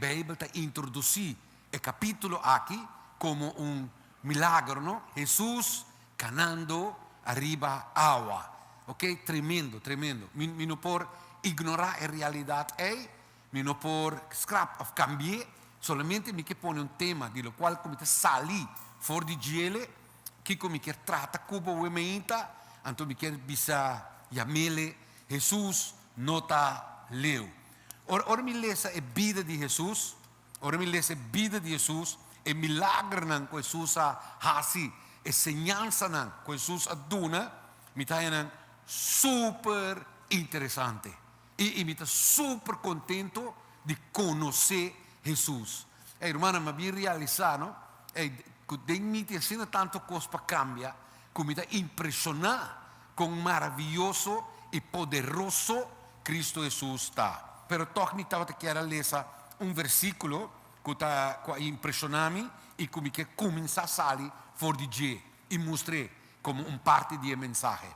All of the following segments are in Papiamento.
Bijbel ta introdusí e kapítulo akí komo un milagro, no? Hesus kanando ariba awa, oke, tremendo, tremendo. Mi, mi no por ignorá e realidat ei, mi no por skrap òf kambi'é, solamente mi ke pone un tema di lokual ku mi ta sali for di djele, kiko mi kier trata ku bo wemeinta, anto mi kier bisa yamele, Hesus no ta leu. Ora, ora mi lesa e bida di Hesus, ora mi lesa e bida di Hesus, e milagernan ku Hesus a hasi, e señalsanan ku Hesus a duna, mi ta haña nan super interesante. I, i mi ta super kontentu di konosé Hesus. Ey, rumannan, mi a bin realisá, no, ey, ku den mi tin asina tantu kos pa kambia, ku mi ta impreshoná. Con maraviyoso y poderoso Cristo Hesus ta! Pero toch mi tabata kier a lesa un versiculo cu ta cu a impresiona mi y cu mi ke cuminsa sali for di dje y mustra e como un parti di e mensahe.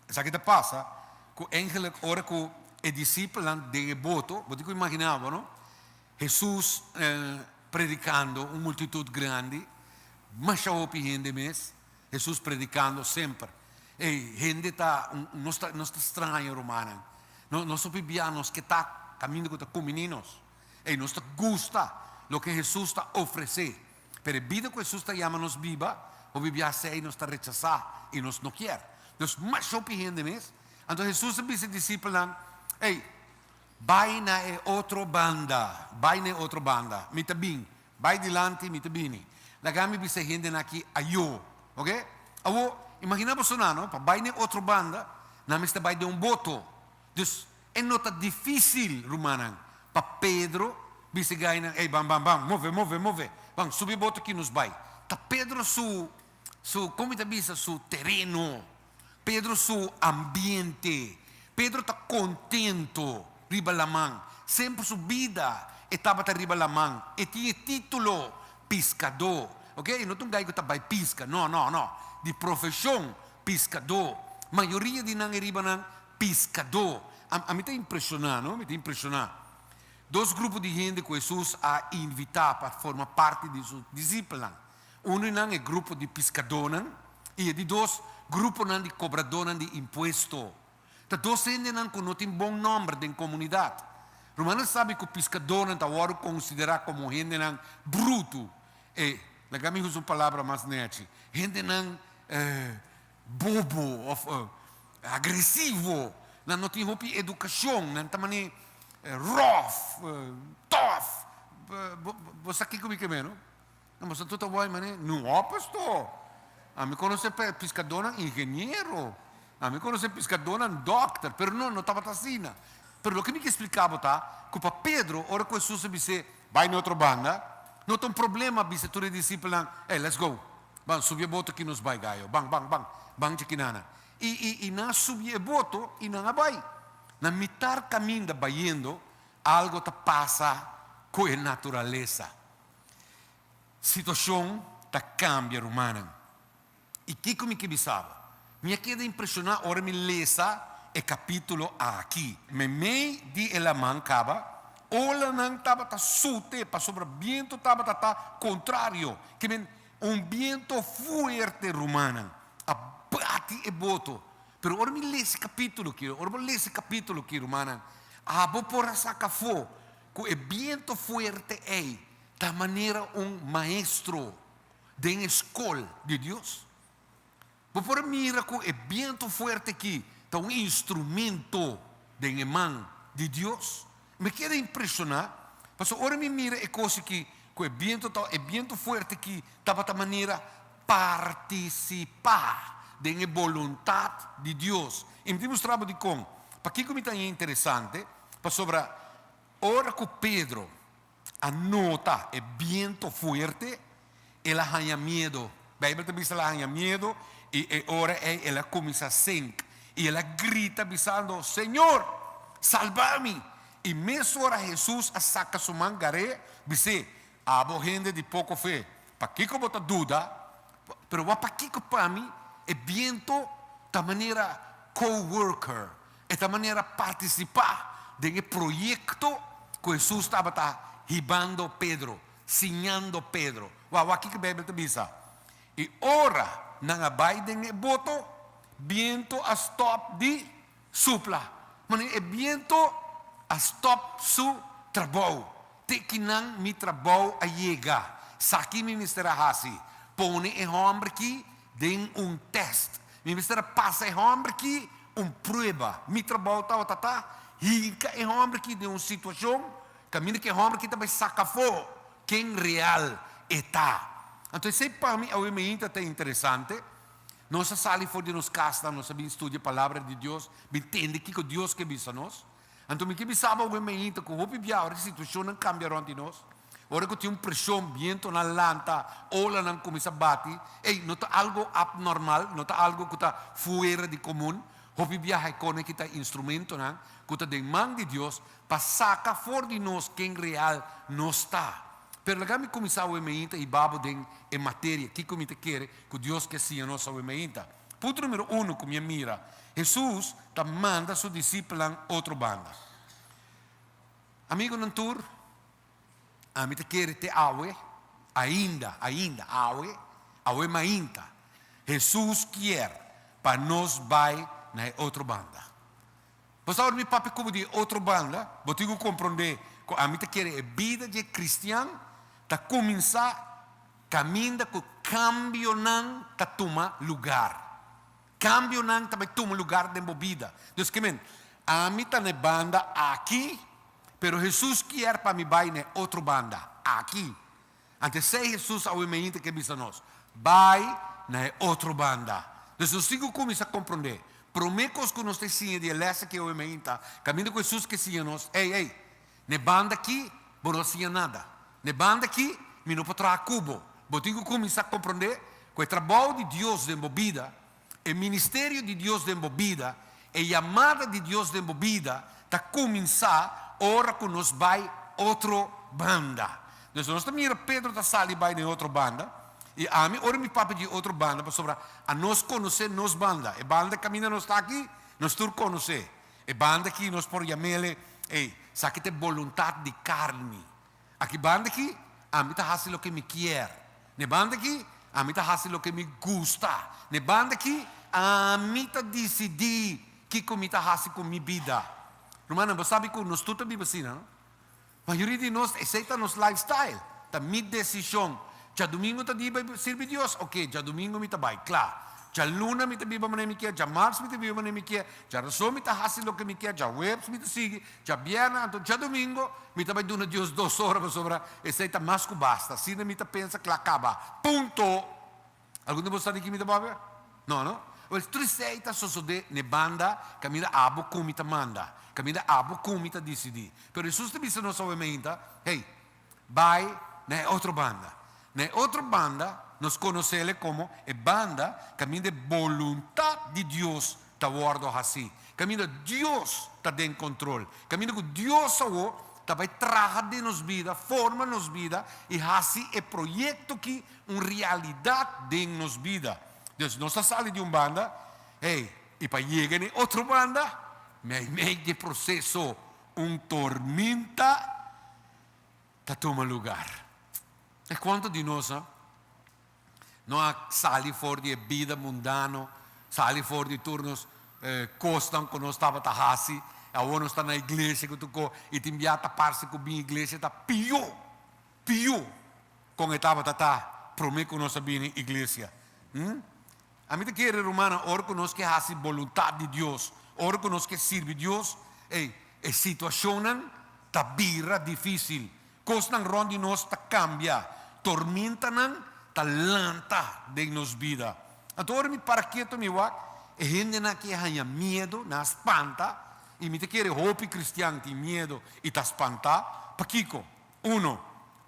Esaki ta pasa cu eigenlijk ora cu e disipelnan den e boto, bo tin cu imagina bo no, Hesus predicando un multitud grandi, masha hopi hende mes. Hesus predikando semper. Ey, hende ta, nos ta, nos ta straña, rumannan. No, nos hopi biaha nos ke ta kaminda ku ta kuminí nos. Ey, nos ta gusta loke Hesus ta ofresé. Pero e bida ku Hesus ta yama nos biba, hopi biaha esei nos ta rechasá i nos no kier. Nos masha hopi hende mes. Anto Hesus a bisa e disipelnan, Ey, bai na e otro banda, bai na e otro banda. Mi ta bin. Bai dilanti, mi ta bini. Laga mi bisa e hendenan aki ayo. Oke? Awo, imagina boso nan no, pa bai na e otro banda, nan mester bai den un boto. Dus, e no ta difícil, rumannan, pa Pedro bisa e gainan, Ey, ban, ban, ban, move, move, move, ban, subi e boto aki, nos bai. Ta Pedro su Su, como mi ta bisa, su tereno, Pedro su ambiente, Pedro ta contento riba laman, semper su bida e tabata riba laman, e tin e titulo piscado, ok, e no ta un guy cu ta bay pisca, no, no, no, di profesion piscado, mayoria di nan ariba nan piscado, a mi ta impresiona, no, mi ta impresiona, dos grupo di hende cu Jesus a invita pa forma parti di su disciple nan. Unu di nan e grupo di piskadónan i e di dos gruponan di kobradónan di impuesto. Ta dos hendenan ku no tin bon nòmber den komunidat. Rumannan sabi ku piskadónan ta wòrdu konsiderá komo hendenan brutu e, laga mi usa un palabra mas nèchi, hendenan bobo òf agresivo, nan no tin hopi edukashon, nan ta mane ròf, tòf, bo sa kiko mi ke mero? Nan boso tuta wòi mané, nu hò pastò. Ami konosé piskadónan ingeniero, ami konosé piskadónan dòkter, pero no, no tabata asina. Pero loke mi ke spliká bo ta ku pa Pedro, ora ku Hesus a bis'é, Bai na otro banda, no ta un problema bisa tur e disipelnan, Ey, let's go! Ban, subi e boto ki nos bai, Gayo. Ban, ban, ban, ban dje ki nana. I, i, i nan a subi e boto i nan a bai. Na mitar kaminda bayendo, algu ta pasa ku e naturalesa. Situacion ta cambia rumannan. Y kico mi ke bisa bo? Mi a keda impresiona ora mi lesa e capitulo aki. Memey di e laman caba, olanan tabata sute pasobra biento tabata ta contrario. Ki men, un biento fuerte rumannan, a bati e boto. Pero ora mi lesa e capitulo ki, ora bo lesa e capitulo ki rumannan, abo por a saca afo. Ku e biento fuerte ei ta manera un maestro den e skol di Dios. Bo por mira ku e biento fuerte ki ta un instrumento den e man di Dios. Mi keda impreshoná pasobra ora mi mira e kos aki ku e biento ta e biento fuerte ki tabata manera Partisipá den e boluntat di Dios. I mi tin mustra bo dikon. Pakiko mi ta hia interesante? Pasobra ora ku Pedro a nota e bientu fuerte, el a haña miedu. Beibel ta bisa el a haña miedu i e ora ei el a kuminsá senk i el a grita bisando, Señor, salbá mi! I mes ora Hesus a saka su man gar'é, bis'é, Abo hende di poko fe, pakiko bo ta duda? Pero wak pakiko pa mi e biento ta manera co-worker, e ta manera partisipá den e proyekto ku Hesus tabata hibando Pedro, siñando Pedro. Wak, wak kiko Beibel ta bisa, I ora nan a bai den e boto, biento a stòp di Supla, ma nu e bientu a stop su trabou. Te kinan mi trabou a yega? Saki mi mester a hasi, pone e homber ki den un test. Mi mester a pasa e homber ki un prueba. Mi trabou tabata ta hinka e homber ki den un situacion, caminda cu e homber ki ta bay saca afo ken real e ta. Anto esey pa mi awe mainta ta interesante. Nos a sali for di nos kasnan, nos a bin studia Palabra di Dios, bin tende kiko Dios ke bisa nos. Anto mi ke bisa bo awor mainta ku hopi bia ora e situashonnan kambia rònt di nos, ora ku tin un preshon, bientonan lanta, olanan kuminsá bati, ei, no ta algu apnormal, no ta algu ku ta fuera di komun. Hopi biaha e kona ki ta instrumentonan ku ta den man di Dios pa saka for di nos ken real nos ta. Pero laga mi kuminsá awor mainta hiba bo den e materia, kiko mi ta kere ku Dios ke siña nos awe mainta. Punto numero uno ku mi a mira, Hesus ta manda su disipelnan otro banda. Amigunan tur, ami ta kere te awe, ainda, ainda, awe, awe mainta, Hesus kier pa nos bai na e otro banda. Bo sa ora mi papia ku bo di e otro banda, bo tin ku komprondé ku ami ta kere e bida dje kristian ta kuminsá Kaminda ku kambionan ta tuma lugar. Kambionan ta bai tuma lugar den bo bida. Dus ke men? Ami ta na e banda aki, pero Hesus kier pa mi bai na e otro banda, aki. Anto esei Hesus a obi mehinter ke bisa nos, Bai na e otro banda. Dus nos tin ku kuminsá komprondé. Promé kos ku nos ta siña di e lèsnan ke obi mehinta, kaminda ku Hesus ke siña nos, Ei, ei! Ne banda ki, bo no a siña nada. Ne banda ki, mi no por traha ku bo. Bo tin ku kuminsá komprondé ku e trabou di Dios den bo bida, e ministerio di Dios den bo bida, e yamada di Dios den bo bida ta kuminsá ora ku nos bai otro banda. Entonces, nos ta mira Pedro ta sali bai den otro banda, i ami ora mi papia dje otro banda, pasobra a nos konosé nos banda. E banda kaminda nos ta aki, nos tur konosé. E banda aki nos por yam'ele, Ey, saki ta e boluntat di karni. Aki banda aki, ami ta hasi loke mi kier. N'e banda aki, ami ta hasi loke mi gusta. N'e banda aki, ami ta disidí kiko mi ta hasi ku mi bida. Rumannan, bo sabi ku nos tur ta biba asina, no? Mayoria di nos esey ta nos lifestyle, ta mi decision, djadumingo ta di bay sirbi Dios, ok, djadumingo mi ta bay, cla, djaluna mi ta biba manera mi kier, djamarts mi ta biba manera mi kier, djarazo mi ta haci loke mi kier, djahuebs mi ta sigui, djabierna, anto djadumingo mi ta bay duna Dios dos ora pasobra esey ta mas cu basta, asina mi ta pensa cla caba, punto. Algun di bo sa di ki mi ta babe? No no? Wel triste ei ta sosode n'e banda kaminda abo kon mi ta manda, kaminda abo kon mi ta disidí. Pero Hesus ta bisa nos awe mainta, Hey, bai na e otro banda. Na e otro banda nos konosele komo e banda kaminda e boluntat di Dios ta wordo haci caminda Dios ta den control, caminda cu Dios awo ta bay traha den nos bida, forma nos bida y haci e proyecto aki un realidad den nos bida. Entonces nos ta sali di un banda, hey, y pa yega n'e otro banda, mey mey di e proceso un torminta ta tuma lugar. Cuanto di nos a. Nos a sali for di e bida mundano, sali for di tur nos kosnan ku nos tabata hasi. I awor nos ta na iglesia ku tokó i tin bia ta parse ku bin iglesia ta pió, pió kon e tabata ta promé ku nos a bini iglesia. Hm. Ami ta kere, rumannan, ora ku nos ke hasi boluntat di Dios, ora ku nos ke sirbi Dios, ei, e situashonnan ta bira difísil, kosnan rònt di nos ta kambia, tormentanan ta lanta den nos bida. Anto, ora mi para ketu, mi wak, e hendenan ke haña miedu nan a spanta, i mi ta kere hopi kristian tin miedu i ta spantá. Pakiko? Uno,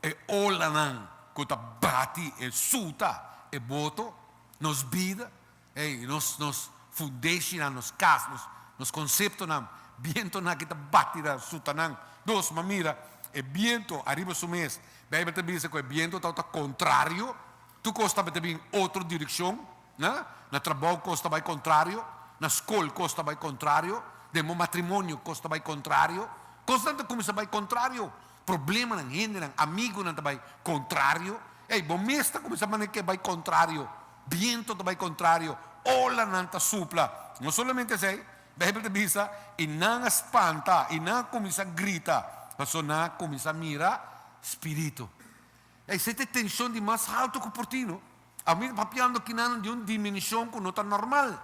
e olanan ku ta bati e suta e boto, nos bida, ei, nos, nos fundeshinan, nos kas, nos, nos konseptonan, bientonan aki ta bati na sutanan. Dos, m'a mira e biento ariba su mes, Beibel ta bisa ku e biento tabata kontrario, tur kos tabata bin otro direkshon. Na na trabou kos ta bai kontrario, na skol kos ta bai kontrario, den bo matrimonio kos ta bai kontrario. Kosnan ta kuminsá bai kontrario. Problemanan, hendenan, amigunan ta bai kontrario. Ei, bo mes ta kuminsá manda ke bai kontrario. Bientu ta bai kontrario, olanan ta supla. No solamente esei, Beibel ta bisa, i nan a spanta, i nan a kuminsá grita, pasobra nan a kuminsá mira spiritu. Ei, esei ta e tenshon di mas haltu ku por tin, no. Awor mi ta papiando ki nan di un diminishon ku no ta normal.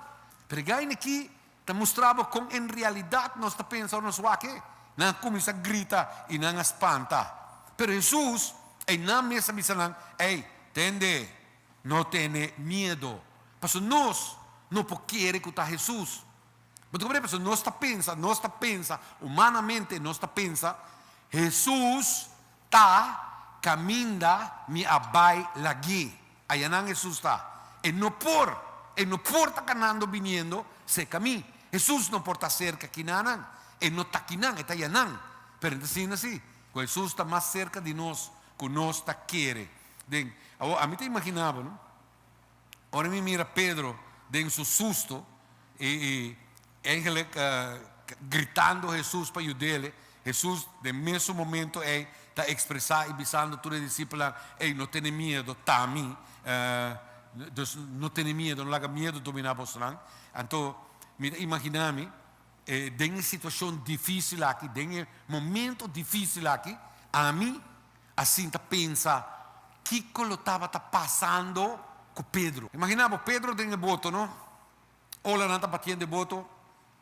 Pregay na ki ta mustra bo kon en realidat nos ta pensa ora nos wak e. Nan a kuminsá grita i nan a spanta. Pero Hesus, einan mes a bisa nan, Ei, tende, no tene miedo. Pasobra nos no por kere ku ta Hesus. Bo ta komprende? Pasobra nos ta pensa, nos ta pensa, humanamente nos ta pensa, Hesus. Ta, caminda mi a bay lagí. Ayanan Jesús ta, E no por, e no por ta canando biniendo cerca mi. Jesús no por ta cerca kinanan. E no ta kinan, e ta yanan. Pero e ta sinti así, cu Jesús ta mas cerca di nos cu nos ta kere den. Awor, ami ta imaginaba, no. Ora mi mira Pedro den su susto y y eigenlijk gritando Hesus pa yudele, Hesus den mesun momento ey ta expresa y bisando tur e disipelnan, Ey, no tene miedo, ta mi, dus no tene miedo, no laga miedo domina bosnan. Anto mi ta imagina mi den e situacion dificil aki, den e momento dificil aki, ami Asin ta pensa kiko lo tabata pasando ku Pedro. Imaginá bo, Pedro den e boto, no? Olanan ta batiendo e boto,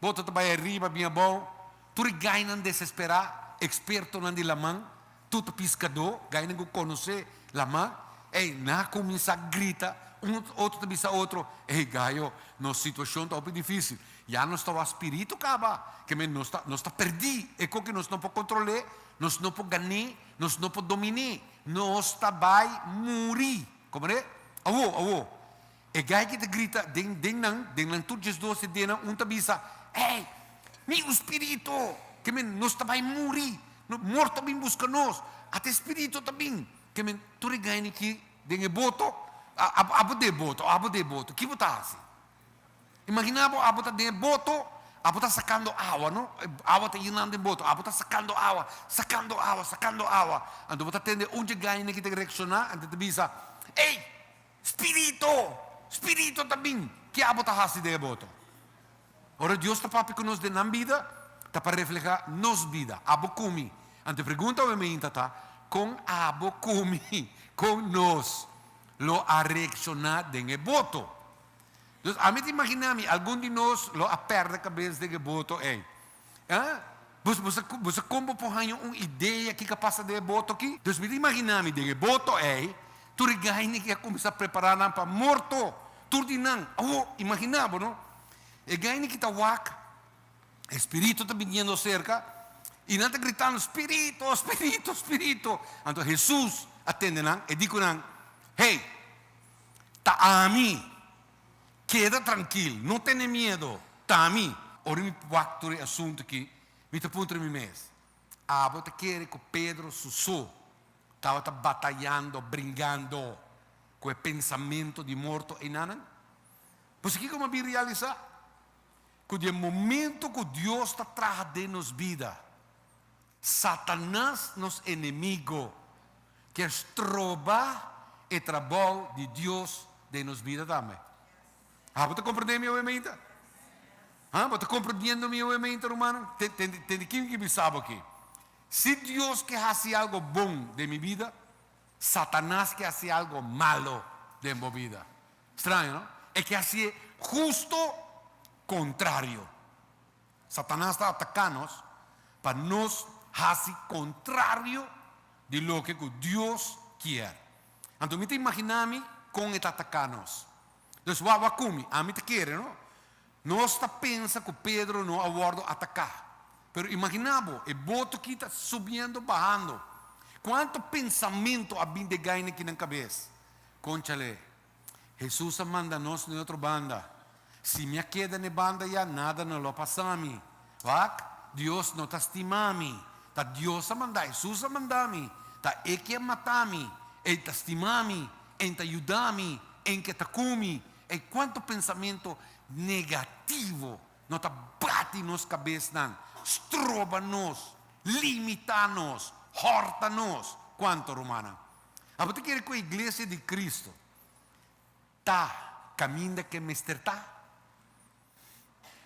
boto ta bai ariba, bin abou, tur e gainan desesperá, ekspertonan di laman, tutu piskadó, gainan ku konosé laman, ey, nan a kuminsá grita, un, otro ta bisa otro, ey gayo, nos situashon ta hopi difísil, ya nos ta wak spiritu kaba, ke men nos ta, nos ta pèrdí, e kon ke nos no por kontrol'é, Nos no por gané, nos no por dominé, nos ta bai muri. Komo ta e? Awo, awo! E gaiky ta grita den, den nan, den nan tur diesdoce denan, un ta bisa, Ey! Mi un spirito! Ke men, nos ta bai muri! Mort ta bin buska nos! At e spirito ta bin! Ke men, tur e gainyki den e boto, a, a, a bo dé boto, a bo dé boto, ki bo ta hasi? Imaginá bo, abo ta den e boto, abo ta sakando awa, no. E awa ta yinando e boto, abo ta sakando awa, sakando awa, sakando awa. Anto bo ta tende un djegaine ki ta reakshoná, anto e ta bisa, Ey! Spirito! Spirito ta bin! Ke abo ta hasi den e boto? Ora Dios ta papia ku nos den nan bida, ta pa reflehá nos bida. Abo kumi. Anto e pregunta awe mi hinta ta, Kon abo kumi? Kon nos lo a reakshoná den e boto? Dus ami ta imaginá mi algun di nos lo a pèrdè kabes den e boto ei. Bus bus a bus a kombo por haña un idea kiko a pasa den e boto aki? Dus mi ta imaginá mi den e boto ei tur e gaini ke a kuminsá a prepará nan pa morto, tur di nan. Awo, imaginá bo no, e gaini ke ta wak, e spiritu ta biniendo serka i nan ta gritando, Spiritu, spiritu, spiritu! Anto Hesus a tende nan, e di ku nan, Hey! Ta ami. Keda trankil, no tene miedo, ta ami. Ora mi wak tur e asuntu aki, mi ta puntra mi mes, Abo ta kere ku Pedro su so tabata batayando, bringando, ku e pensamentu di morto einanan? Pues kiko mi a bin realisá? Ku di e momentu ku Dios ta traha den nos bida, Satanas, nos enemigo, kier stroba e trabou di Dios den nos bida tambe. A bo ta komprendé mi awe meinta? A bo ta komprendiendo mi awe meinta, rumannan? Te di kin ki bisa bo aki? Si Dios ke hasi algo bon den mi bida, Satanas ke hasi algo malo den bo bida. Straño, no? E ke hasié husto kontrario. Satanas ta ataká nos pa nos hasi kontrario di loke ku Dios kier. Anto mi ta imaginá mi kon e ta ataká nos. Dus wak wak ku mi, ami ta kere no nos ta pensa ku Pedro no a wòrdu ataká. Pero imaginá bo, e boto ki ta subiendo bahando. Kuantu pensamentu a bin degay na kinan kabes? Konchalé, Hesus a manda nos na e otro banda. Si mi a keda na e banda ya, nada no lo pasa mi. Wak, Dios no ta stima mi. Ta Dios a manda Hesus a manda mi. Ta E ke a mata mi. E ta stima mi. E ta yuda mi. E ke ta ku mi. Ey, cuanto pensamiento negativo no ta bati nos cabesnan, stroba nos, limita nos, horta nos. Cuanto, rumannan? Abo ta kere ku Iglesia di Kristu ta kaminda ke mester ta?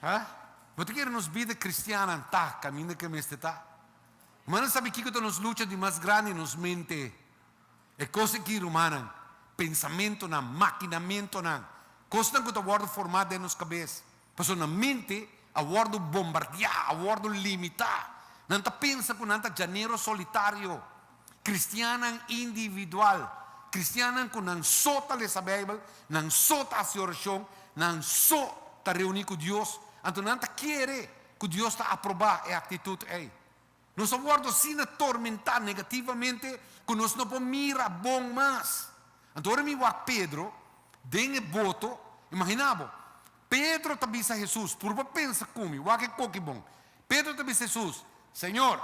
A? Bo ta kere nos bida kristiannan ta kaminda ke mester ta? Rumannan sabi kiko ta nos lucha di mas grandi? Nos mente. E kos aki, rumannan, pensamentunan, makinamentunan, kosnan ku ta wòrdu formá den nos kabes. Personnan mente a wòrdu bombardiá, a wòrdu limitá. Nan ta pensa ku nan ta djanero solitario. Kristiannan individual, kristiannan ku nan so ta lesa Beibel, nan so ta hasi orashon, nan so ta reuní ku Dios, anto nan ta kere ku Dios ta aprobá e aktitut ei. Nos a wòrdu asina tormentá negativamente ku nos no por mira bon mas. Anto ora mi wak Pedro den e boto, imaginá bo, Pedro ta bisa Hesus, purba pensa ku mi wak e koki bon. Pedro ta bisa Hesus, Señor,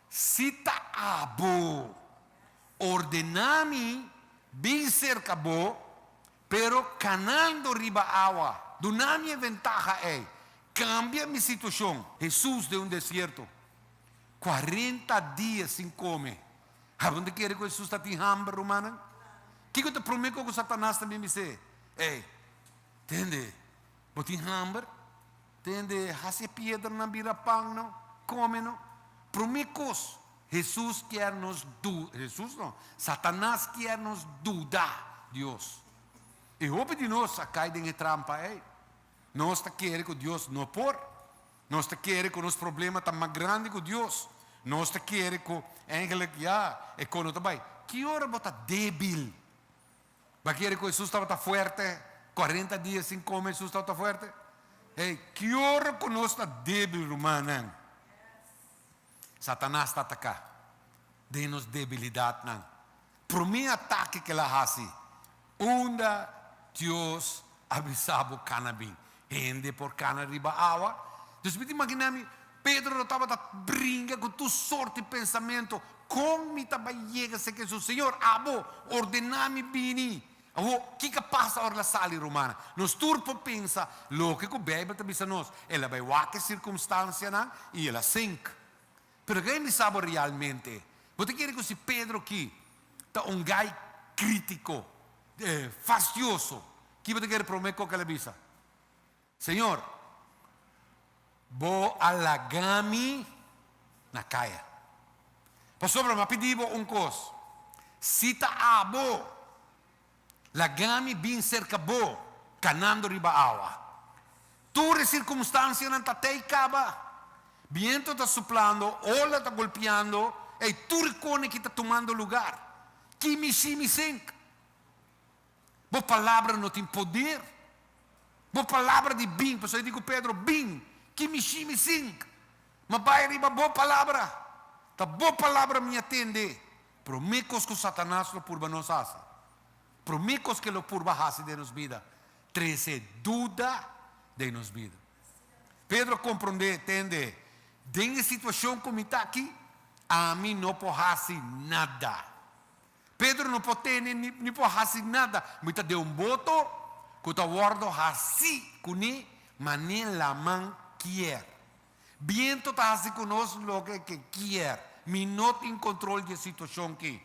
si ta abo, ordená mi bin serka bo Pero kanando riba awa dunami e ventaha ei. Kambia mi situashon. Hesus den un desierto. Cuarenta dia sin come. Aronde kere ku Hesus ta tin hamber, rumannan? Kiko ta prome ku Satanas ta mimis'é? Ei, tende. Bo tin hamber? Tende hasi e piedranan bira pan no? Kome no. Promé kos, Hesus kier nos du, Hesus no, Satanas kier nos duda Dios. I hopi di nos a kai den e trampa ei. Nos ta kere ku Dios no por. Nos ta kere ku nos problema ta mas grandi ku Dios. Nos ta kere ku, eindelijk, ya, e kono ta bai. Ki ora bo ta débil? Ta kere ku Hesus tabata fuerte, kuarenta dia sin kome Hesus tabata fuerte? Hey, ki ora ku nos ta debil, rumannan, Satanas ta ataka den nos debilidatnan. Promé atake ku el a hasi, Unda Dios a bisa bo kana bin? Hende por kana riba awa. Dus mi ta imaginá mi, Pedro lo tabata bringa ku tur sort di pensamentu, Kon mi ta bai yega serka esun? Señor, abo ordená mi bini. Awo, kiko pasa ora el a sali rumana? Nos tur por pensa loke ku Beibel ta bisa nos, El a bai wak e sirkumstansianan i el a sink. Pero ke mi sa bo realmente? Bo ta kere ku si Pedro ki ta un gai kritiko, fastioso, ki bo ta kere promé kos ku el a bisa? Señor, bo a laga mi na kaya. Pasobra mi a pidi bo un kos, si ta abo. Laga mi bin serka bo, kanando riba awa. Tur e sirkumstansianan ta tei kaba. Bientu ta suplando, ola ta golpiando, ei tur e kone ki ta tumando lugar. Ki mi shi mi sink. Bo palabra no tin poder. Bo palabra di bin, pasobra e di ku Pedro, Bin, ki mi shi mi sink. Mi a bai riba bo palabra. Ta bo palabra mi a tende, Promé kos ku Satanas lo purba nos hasi, promé kos ku el lo purba hasi den nos bida, trese duda den nos bida. Pedro a komprondé, tende, den e situashon ku mi ta aki, ami no por hasi nada. Pedro no por tene ni por hasi nada. Mi ta den un boto ku ta wòrdu hasi kuné manera laman kier. Bientu ta hasi ku nos loke ke kier. Mi no tin kontrol di e situashon ki.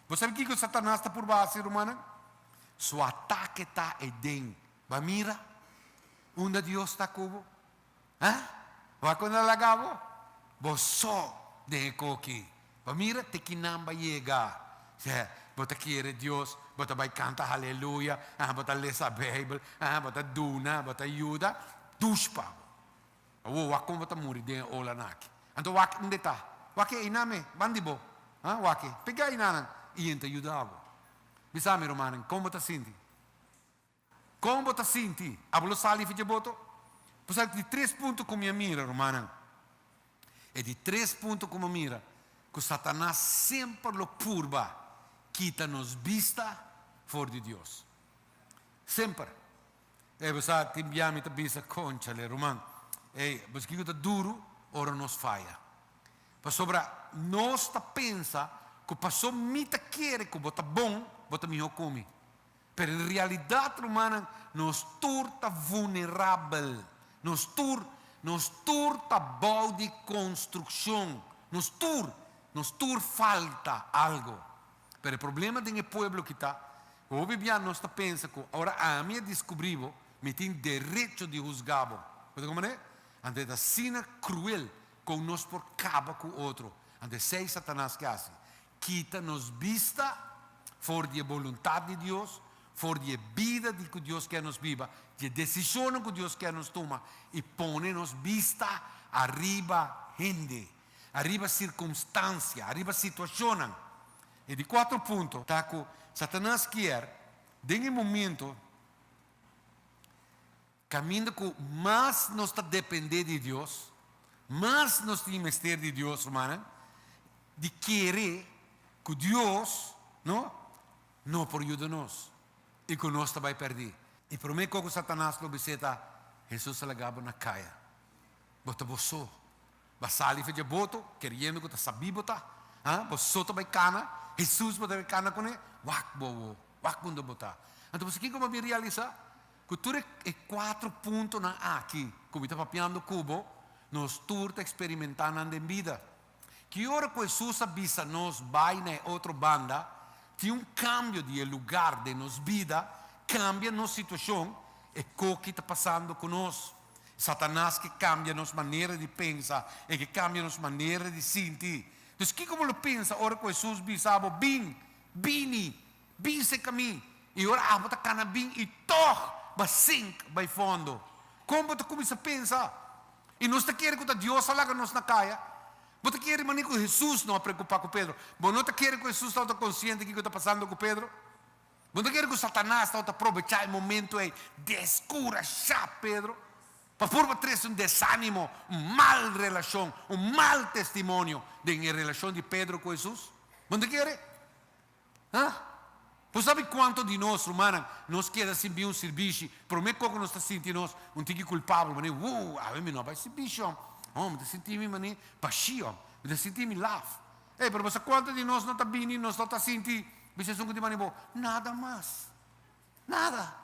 Bo sabi kiko Satanas ta purba hasi, rumannan? Su atake ta eden. Bo a mira unda Dios ta ku bo? A? Bo a kunda el a laga bo? Bo so den e ko ki. Bo a mira te kinan bo a yega. Sea, bo ta kere Dios, bo ta bai kanta haleluya, a bo ta lesa Beibel, a bo ta duna, bo ta yuda, dush pa bo. Awo, wak kon bo ta muri den e olanan aki. Anto wak inde ta? Wak e ainame, ban di bo. Ha, wak e. P'e ke ainanan? I yen ta yuda bo. Bisa mi, rumannan, kon bo ta sinti? Kon bo ta sinti? A bo lo sali fi dje boto? Bo sa di tres punto ku mi a mira, rumannan, e di tres punto ku mi a mira ku Satanas semper lo purba kita nos bista for di Dios. Semper. Ey, bo sa, tin bia mi ta bisa, conchale, ruman, ey, bo sa kiko ta duru ora nos faya. Pasobra nos ta pensa ku paso mi ta kere ku bo ta bon, bo ta mihó ku mi. Pero en realidad, rumannan, nos tur ta vulnerabel. Nos tur, nos tur ta bou di konstrukshon. Nos tur, nos tur falta algo. Pero e problema den e pueblo aki ta, hopi bia nos ta pensa ku ora ami a diskubrí bo, mi tin derecho di husgá bo. Bo ta kòmprendé? Anto e ta asina kruel kon nos por kaba ku otro. Anto esei Satanas ke hasi. Kita nos bista for di e boluntat di Dios, for di e bida di ku Dios ke nos biba, di e desishonnan ku Dios ke nos tuma i pone nos bista ariba hende. Ariba sircumstancia, ariba situacionnan. E di cuatro punto ta cu Satanas kier den e momento caminda cu mas nos ta depende di Dios, mas nos tin mester di Dios, rumannan, di kere cu Dios no no por yuda nos y cu nos ta bay perdi. E prome cos cu Satanas lo bisita, Jesus a lagabo na caya, Bo ta bo so. Bo sali for dje boto keriendo ku ta sabí bo ta, ha? Bo so ta bai kana, Hesus bo ta bai kana kuné, wak bo awo, wak unda bo ta. Anto bo sa kiko bo a bin realisá? Ku tur e kuater puntonan aki ku mi ta papiando ku bo, nos tur ta eksperimentá nan den bida. Ki ora ku Hesus a bisa nos bai na e otro banda, tin un kambio di e lugar den nos bida, kambia nos situashon, e koki ta pasando ku nos. Satanas ke kambia nos manera di pensa, e ke kambia nos manera di sinti. Dus kiko bo lo pensa ora ku Hesus bisa bo, Bin, bini, bin seka mi? I ora abo ta kana bin i tòg bo a sink bai fondo? Kon bo ta kuminsá pensa? I nos ta kere ku ta Dios a laga nos na kaya? Bo ta kere manera ku Hesus no a preokupá ku Pedro? Bo no ta kere ku Hesus tabata konsiente di kiko ta pasando ku Pedro? Bo ta kere ku Satanas ta wòrdu aprobechá e momentu ei deskurashá Pedro pa purba trese un desánimo, un mal relashon, un mal testimonio den e relashon di Pedro ku Hesus? Bo ta kere? Ha? Bo sabi kuantu di nos, rumannan, nos keda sin bin un sirbishi, promé kos ku nos ta sinti nos un tiki kulpabel, manera, Wuu, awe mi no a bai sirbishi, hombre, oh, mi ta sinti mi manera bashí, hombre, mi ta sinti mi laf. Ey, pero bo sa cuanta di nos no ta bini y nos no ta sinti bisha esun cu tin manibo? Nada mas. Nada.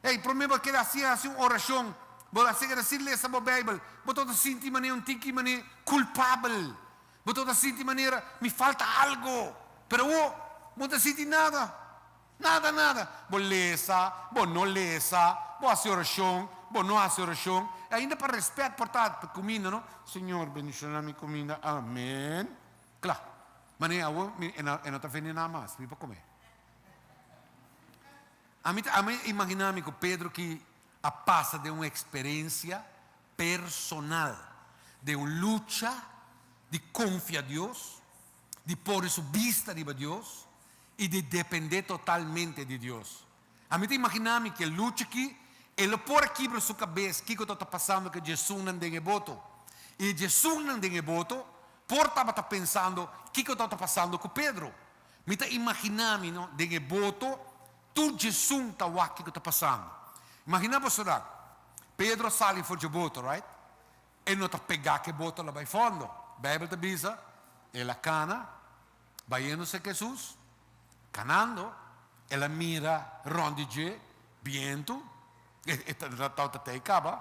Ey, prome bo a keda haci, haci un oracion, bo a seker así lesa bo Bijbel, bo ta ota sinti manera, un tiki manera culpabel. Bo ta ota sinti manera, mi falta algo. Pero awo, bo no ta sinti nada. Nada nada. Bo lesa, bo no lesa, bo hasi orashon, bo no hasi orashon, e ainda pa rèspèt por ta tu kuminda no, Señor, bendishona mi kuminda, amèn. Kla, manera awor mi e no e no ta vende nada mas, mi por kome. Ami ta ami a imaginá mi ku Pedro ki a pasa den un eksperensia personal, den un lucha di konfia Dios, di pone su bista riba Dios y di depende totalmente di Dios. A mi ta imagina mi ki e lucha aki, e lo por a kibra su cabes kico ta ta pasando cu e djesunnan den e boto. Y e djesunnan den e boto por tabata pensando kico ta ta pasando cu Pedro. Mi ta imagina mi no, den e boto tur djesun ta wak kico ta pasando. Imagina boso nan, Pedro a sali for dje boto, right? E no ta pegá k'e boto la bai fondo. Beibel ta bisa, El a kana bayéndose k'e Hesus, kanando, El a mira rònt di dje, bientu, e tabata t'ei kaba,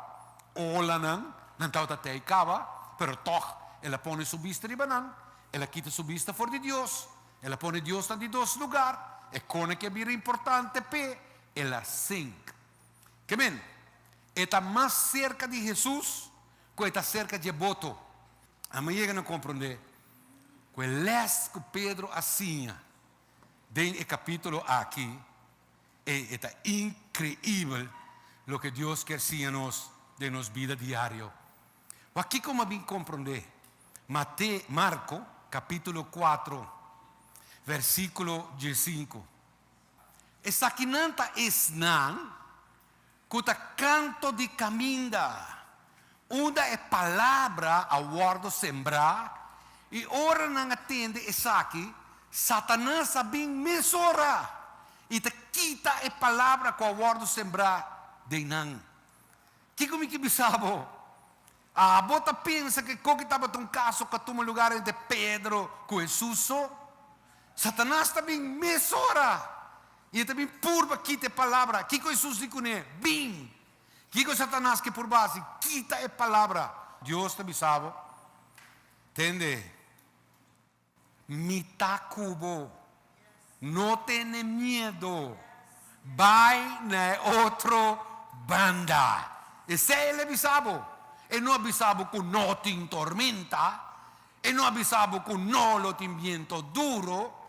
olanan, nan tabata t'ei kaba, pero tòg El a pone Su bista riba nan, El a kita Su bista for di Dios, El a pone Diosnan di dos lugar, e kona ke a bira importante p'E, El a sink. Ke men? E ta mas serka di Hesus ku e ta serka dje boto. Ami a yega na komprondé ku e lès ku Pedro a siña den e kapítulo aki, ei, e ta inkreibel loke Dios kier siña nos den nos bida diario. Wak kiko mi a bin komprondé, Mate, Marko, kapítulo kuatro, versíkulo diesinku. Esakinan ta esnan ku ta kanto di kaminda, unda e palabra a wòrdu sembrá, i ora nan a tende esaki, Satanas a bin mesora i ta kita e palabra ku a wòrdu sembrá den nan. Kiko mi ke bisa bo? Abo ta pensa ke koki tabata un kaso ka tuma lugar entre Pedro ku Hesus so? Satanas ta bin mes ora i e ta bin purba kita e palabra. Kiko Hesus di kuné? Bin. Kiko Satanas ke purba hasi? Kita e palabra. Dios ta bisa bo, Tende. Mi ta ku bo. No tene miedo. Bai na e otro banda. Esei el a bisa bo. E no a bisa bo ku no tin tormenta. E no a bisa bo ku no lo tin biento duro.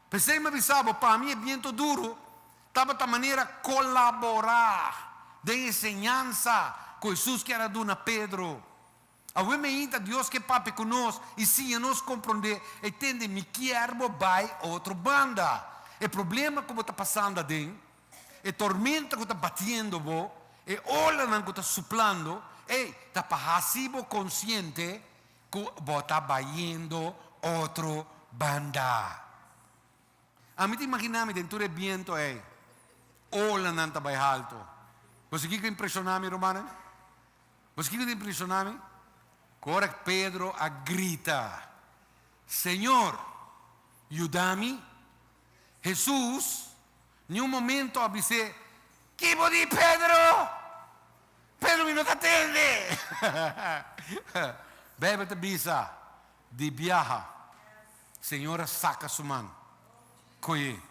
P'esei mi a bisa bo, pa mi e biento duro tabata manera kolaborá den e enseñansa ku Hesus kier a duna Pedro. Awe mi hinta Dios ke papia ku nos i siña nos komprondé e tende mi kier bo bai otro banda. E problema ku bo ta pasando aden, e tormenta ku ta batiendo bo, e olanan ku ta suplando, ei ta pa hasi bo konsiente ku bo ta bayendo otro banda. Ami ta imaginá mi den tur e biento ei, olanan ta bai haltu. Bo si kiko impreshona mi, rumannan? Nos kiko ta impresioná mi? Ku ora ku Pedro a grita, Señor, yuda mi, Hesus ni un momento a bis'é, Ki bo di, Pedro? Pedro, mi no ta tende! Beibel ta bisa, Di biaha, Señor a saka su man, ko'é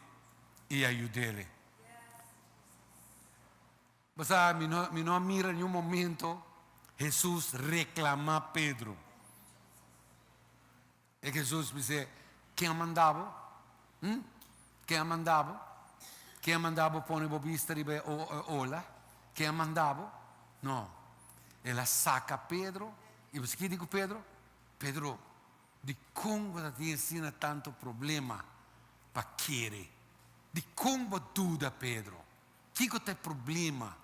i a yud'é. Bo sa, mi no, mi no a mira niun momento Hesus reklamá Pedro. E ke Hesus bis'é, Ken a manda bo? Hm? Ken a manda bo? Ken a manda bo pone bo bista riba e ola? Ken a manda bo? No. El a saka Pedro, i bo sa ke di ku Pedro? Pedro, dikon bo ta tin asina tantu problema pa kere? Dikon bo duda, Pedro? Kiko ta e problema?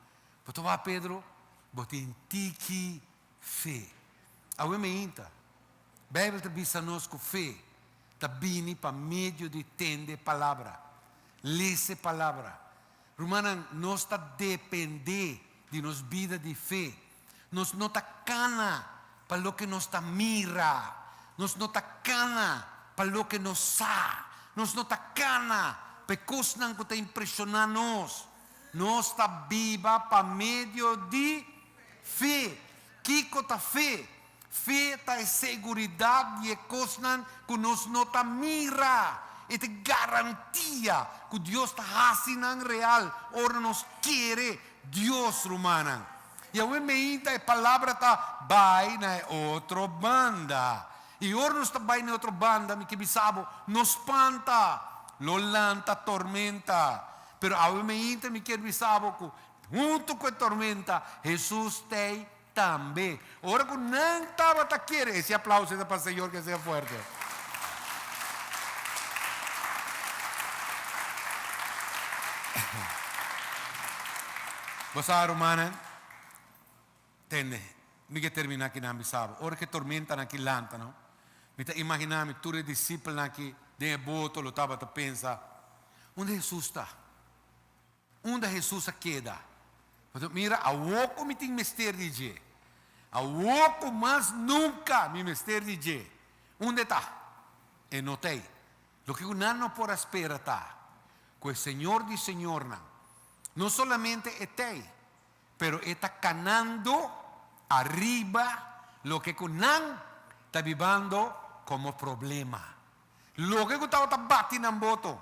Bo ta wak Pedro? Bo tin tiki fe. Awe mi ainta, Bijbel ta bisa nos ku fe ta bini pa medio di tende e palabra, lesa e palabra. Rumannan, nos ta dependé di nos bida di fe Nos no ta kana pa loke nos ta mira. Nos no ta kana pa loke nos sa. Nos no ta kana pa e kosnan ku ta impreshoná nos. Nos ta biba pa medio di fe. Kiko ta fe? Fe ta e seguridat di e kosnan ku nos no ta mira. E ta e garantia ku Dios ta hasi nan real ora nos kere Dios, rumannan. I awe meinta e palabra ta bai na e otro banda. I ora nos ta bai na e otro banda, mi ke bisa bo, no spanta, lo lanta tormenta. Pero awe meinta mi kier bisa bo ku huntu ku e tormenta, Hesus t'ei Tambe, ora ku nan tabata kere. E si aplauso ta pa Señor ke sea fuerte. Bo sa rumannan, tende, mi ke terminá kinan mi saba. Ora ku e tormentanan aki lanta no, mi ta imaginá mi tur e disipelnan aki den e boto lo tabata pensa, Unda Hesus ta? Unda Hesus a keda? Pasobra mira, awor ku mi tin mester di dje, awor ku mas nunka mi mester di dje. Unda e ta? E no ta ei. Loke ku nan no por a spera ta ku e Señor di señornan no solamente e ta ei, pero e ta kanando ariba loke ku nan ta bibando komo problema. Loke ku tabata bati nan boto,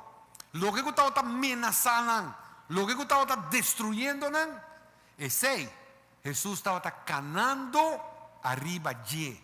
loke ku tabata menasá nan, loke ku tabata destruyendo nan, esei Hesus tabata kanando ariba dje.